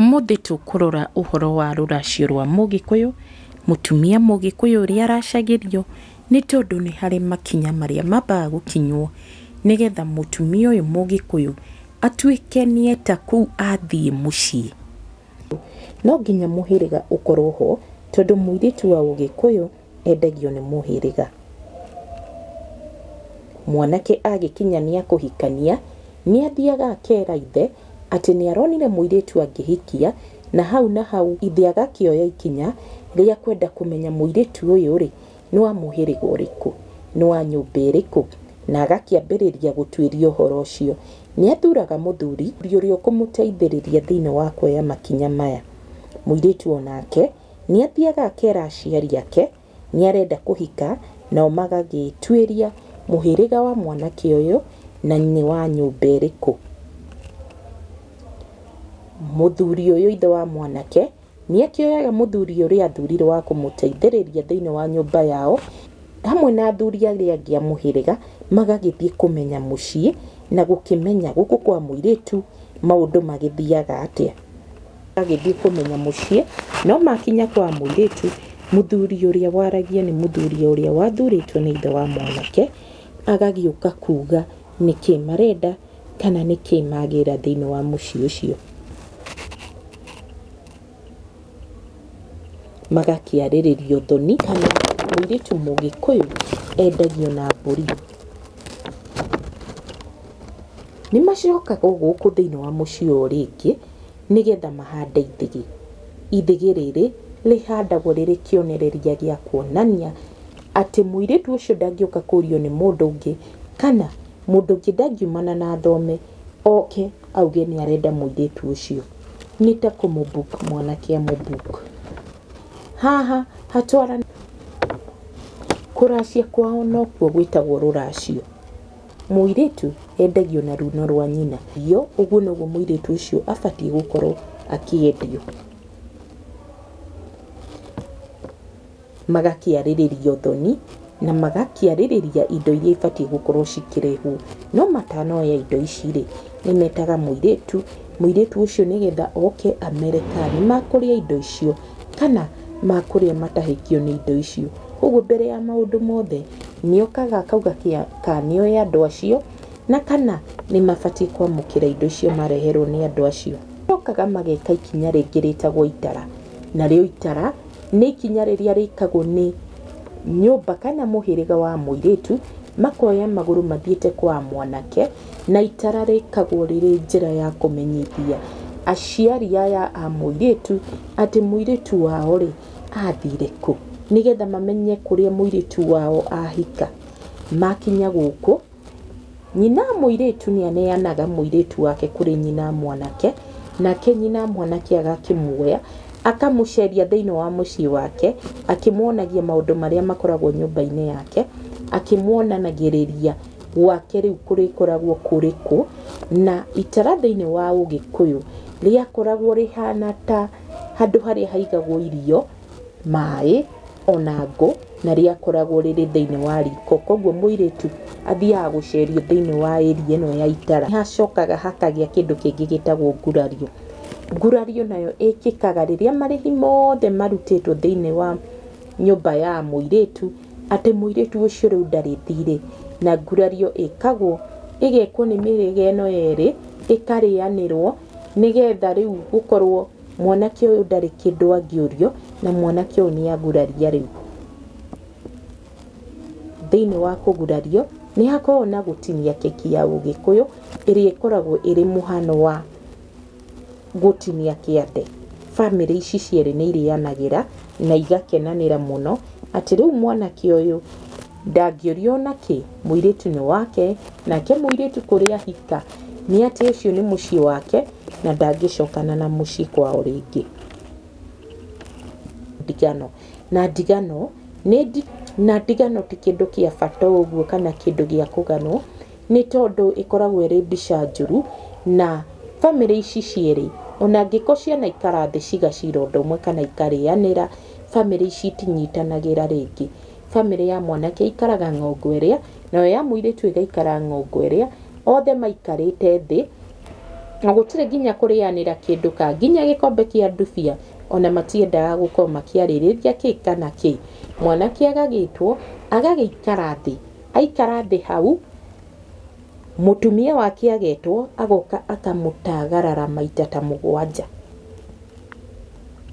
Ũmũthĩ tũkũrora ũhoro wa rũracio rwa Mũgĩkũyũ, mũtumia Mũgĩkũyũ ũrĩa aracagĩrio, nĩ tondũ nĩ harĩ makinya marĩa mambaga gũkinywo nĩgetha mũtumia ũyũ Mũgĩkũyũ atuĩke nĩ eta kũu athiĩ mũciĩ. No nginya mũhĩrĩga ũkorwo ho tondũ mũirĩtu wa Ũgĩkũyũ... endagio nĩ mũhĩrĩga. Mwanake agĩkinya nĩ ekũhikania, nĩ athiaga akera ithe atĩ nĩ aronire mũirĩtu angĩhikia, na hau na hau ithe agakĩoya ikinya rĩa kwenda kũmenya mũirĩtu ũyũ rĩ, nĩ wa mũhĩrĩga ũrĩkũ, nĩ wa nyũmba ĩrĩkũ, na agakĩambĩrĩria gũtuĩria ũhoro ũcio. Nĩ athuraga mũthuri ũrĩa ũkũmũteithĩrĩria thĩiniĩ wa kuoya makinya maya. Mũirĩtu o nake Nĩathiaga akera aciari ake nĩarenda kũhika nao magagĩĩtuĩria mũhĩrĩga wa mwanake ũyũ na nĩ wa nyũmba ĩrĩkũ. Mũthuri ũyũ ithe wa mwanake nĩakĩoyaga mũthuri ũrĩa athurirwo wa kũmũteithĩrĩria thĩiniĩ wa nyũmba yao hamwe na athuri arĩa angĩ a mũhĩrĩga magagĩthiĩ kũmenya mũciĩ na gũkĩmenya gũkũ kwa mũirĩtu maũndũ magĩthiaga atĩa. Agĩthiĩ kũmenya mũciĩ, no maakinya kwa mũirĩtu, mũthuri ũrĩa waragia nĩ mũthuri ũrĩa wathurĩtwo nĩ ithe wa mwanake, agagĩũka kuuga nĩ kĩ marenda kana nĩ kĩ magĩra thĩinĩ wa mũciĩ ũcio. Magakĩarĩrĩrio thoni kana mũirĩtu mũgĩkũyũ endagio na mbũri. Nĩ macokaga o gũkũ thĩinĩ wa mũciĩ o rĩngĩ. nĩgetha mahande ithĩgĩ. Ithĩgĩ rĩrĩ rĩhandagwo rĩrĩ kĩonereria gĩa kuonania atĩ mũirĩtu ũcio ndangĩũka kũrio nĩ mũndũ ũngĩ kana mũndũ ũngĩ ndangiumana na thome oke auge nĩ arenda mũirĩtu ũcio. Nĩ ta kũmũ book mwanake amũ book. Haha hatwaranĩtie, kũracia kwao nokuo gwĩtagwo rũracio. Mũirĩtu endagio na runo rwa nyina. Yo ũguo noguo mũirĩtu ũcio abatiĩ gũkorwo akĩendio. Magakĩarĩrĩria ũthoni, na magakĩarĩrĩria indo iria ibatiĩ gũkorwo cikĩrehwo. No matanoya indo ici rĩ, nĩ metaga mũirĩtu, mũirĩtu ũcio nĩgetha oke amere kana nĩ makũrĩa indo icio, kana makũrĩa matahĩkio nĩ indo icio. Ũguo mbere ya maũndũ mothe, Nĩ okaga akauga kana nĩ oĩ andũ acio na kana nĩ mabatiĩ kwamũkĩra indo icio mareherwo nĩ andũ acio. Nĩ mokaga mageka ikinya rĩngĩ rĩtagwo itara. Narĩo itara nĩ ikinya rĩrĩa rĩkagwo nĩ nyũmba kana mũhĩrĩga wa mũirĩtu, makoya magũrũ mathiĩte kwa mwanake, na itara rĩkagwo rĩrĩ njĩra ya kũmenyithia aciari aya a mũirĩtu atĩ mũirĩtu wao rĩ... athire kũ, nĩgetha mamenye kũrĩa mũirĩtu wao ahika. Makinya gũkũ, nyina mũirĩtu nĩ aneanaga mũirĩtu wake kũrĩ nyina mwanake, nake nyina mwanake agakĩmuoya, akamũceria thĩinĩ wa mũciĩ wake, akĩmuonagia maũndũ marĩa makoragwo nyũmba-inĩ yake, akĩmuonanagĩrĩria gwake rĩu kũrĩkoragwo kũrĩ kũ, na itara thĩinĩ wa ũgĩkũyũ, rĩakoragwo rĩhana ta... handũ harĩa haigagwo irio, maĩ, ona ngũ, na rĩakoragwo rĩrĩ thĩinĩ wa riko. Koguo mũirĩtu athiaga gũcerio thĩinĩ wa area ĩno ya itara. Nĩ hacokaga hakagĩa kĩndũ kĩngĩ gĩtagwo ngurario. Ngurario nayo ĩkĩkaga rĩrĩa marĩhi mothe marutĩtwo thĩinĩ wa nyũmba ya mũirĩtu, atĩ mũirĩtu ũcio rĩu ndarĩ thirĩ. Na ngurario ĩkagwo, ĩgekwo nĩ mĩhĩrĩga ĩno ĩrĩ, ĩkarĩanĩrwo, nĩgetha rĩu gũkorwo mwanake ũyũ ndarĩ kĩndũ angĩũrio na mwanake ũyũ nĩ aguraria rĩu. Thĩinĩ wa kũgurario nĩ hakoragwo na gũtinia keki ya ũgĩkũyũ ĩrĩa ĩkoragwo ĩrĩ mũhano wa gũtinia kĩande. Bamĩrĩ ici cierĩ nĩ irĩanagĩra na igakenanĩra mũno atĩ rĩu mwanake ũyũ Ndangĩũrio o na kĩ, mũirĩtu nĩ wake, nake mũirĩtu kũrĩa ahika, nĩ atĩ ũcio nĩ mũciĩ wake, na ndangĩcokana na mũciĩ kwao rĩngĩ. Ndigano. Na ndigano, na ndigano ti kĩndũ kĩa bata ũguo kana kĩndũ gĩa kũganwo, nĩ tondũ ĩkoragwo ĩrĩ mbica njũru, na bamĩrĩ ici cierĩ, o na angĩkorwo cianaikara thĩ cigacira ũndũ ũmwe kana ikarĩanĩra, bamĩrĩ ici itinyitanagĩra rĩngĩ. Bamĩrĩ ya mwanake ĩikaraga ng'ongo ĩrĩa, nayo ya mũirĩtu ĩgaikara ng'ongo ĩrĩa, othe maikarĩte thĩ, na gũtirĩ nginya kũrĩanĩra kĩndũ ka, nginya gĩkombe kĩa ndubia, ona matiendaga gũkorwo makĩarĩrĩria kĩ kana kĩ. Mwanake agagĩtwo, agagĩikara thĩ. Aikara thĩ hau... Mũtumia wake agetwo agoka akamũtagarara maita ta mũgwanja.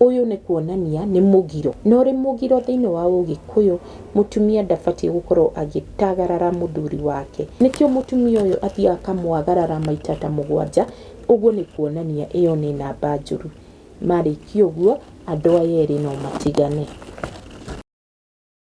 Ũyũ nĩ kuonania nĩ mũgiro. Na ũrĩ mũgiro thĩinĩ wa ũgĩkũyũ, mũtumia ndabatiĩ gũkorwo agĩtagarara mũthuri wake. Nĩkĩo mũtumia ũyũ athiaga akamwagarara maita ta mũgwanja, ũguo nĩ kuonania ĩyo nĩ namba njũru. Marĩkia ũguo, andũ aya erĩ no matigane.